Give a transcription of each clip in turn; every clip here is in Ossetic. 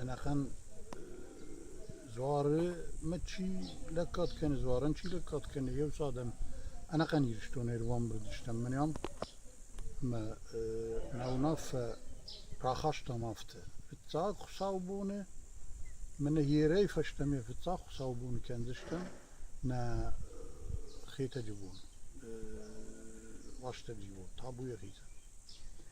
Ӕнӕхъӕн дзуарымӕ чи лӕггад кӕны, дзуарӕн чи лӕггад кӕны, еу цад ам ӕнӕхъӕн Иристонӕй ӕруӕмбурд стӕм мӕн ам. Ӕмӕ мӕ унаффӕ рахастам афтӕ: фыццаг хуыцаубоны мӕнӕ ерӕй фӕстӕмӕ фыццаг хуыцаубоны кӕндзыстӕм нӕ Хетӕджы бон, ластӕджы бон, табуйӕ хицӕн.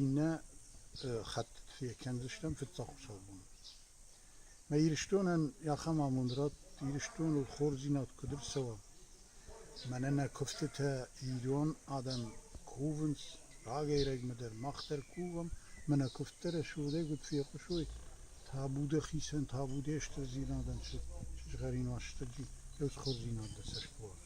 Иннӕ хӕттыты фӕкӕндзыстӕм фыццагхуыцӕг бон. Мӕ Ирыстонӕн ахӕм амонд радт, Ирыстоныл хорздзинад куыд ӕрцӕуа. Мӕнӕ нӕ куывдтытӕ ирон адӕм кувынц, рагӕй-рӕгмӕ дӕр мах дӕр кувӕм, ӕмӕ нӕ куывдтӕ рӕсугъдӕй куыд фехъусой, табуды хицӕн, табуде стырдзинадӕн, сызгъӕрин уастырджи, ӕз хорздзинад дӕ цӕст куы уарзон.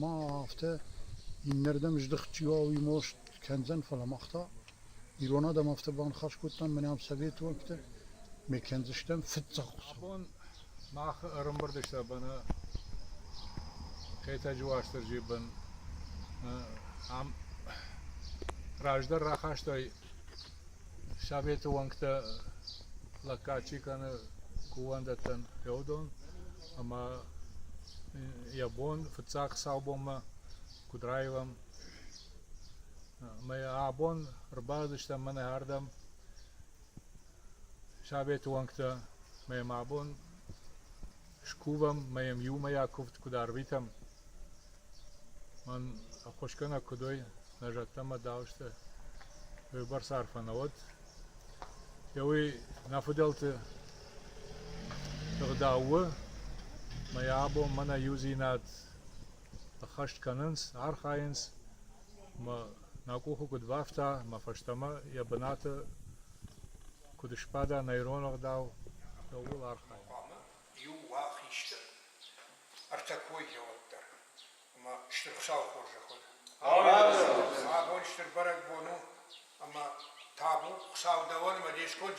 Ма афтӕ иннӕрдӕм здыхт чи уа, уый маст кӕндзӕн, фӕлӕ мах та ирон адӕм афтӕ баныхас кодтам, мынӕм совет уӕнгтӕ, ме кӕндзыстӕм фыццаг Хуыцау. Абон мах ӕрӕмбырд стӕм ӕнӕ Хетӕджы Уастырджийы бын. Ам раздӕр рахастай Советы уӕнгтӕ лӕггад чи кӕны кувӕндӕттӕн феодон ӕмӕ йӕ бон фыццаг саубонмӕ Кудраевӕм ӕмӕ йӕ абон ӕрбацыдыстӕм мӕнӕ ардӕм советы уӕнгтӕ ӕмӕ йӕм абон скувӕм ӕмӕ йӕм иумӕйаг куывд куыд арвитӕм Мӕн ӕххуысгӕнӕг куыд уой, нӕ зӕдтӕмӕ дауысты уыйбӕрц арфӕ нӕ уӕд. Йӕ уый нӕ фыдӕлты ӕгъдау у, ӕмӕ йӕ абон мӕнӕ иудзинад ӕххӕст кӕнынц, архайынц, ӕмӕ нӕ къухы куыд бафта, ӕмӕ фӕстӕмӕ йӕ бынаты куыд сбада нӕ ирон ӕгъдау, ууыл архайын. иу уа хистӕр, ӕртӕ кой зӕгъӕд дӕр. Ӕмӕ стыр Хуыцауы хорзӕх уӕд. Амин. Абон стыр бӕрӕгбон у ӕмӕ табу Хуыцау дӕуӕн ӕмӕ де сконд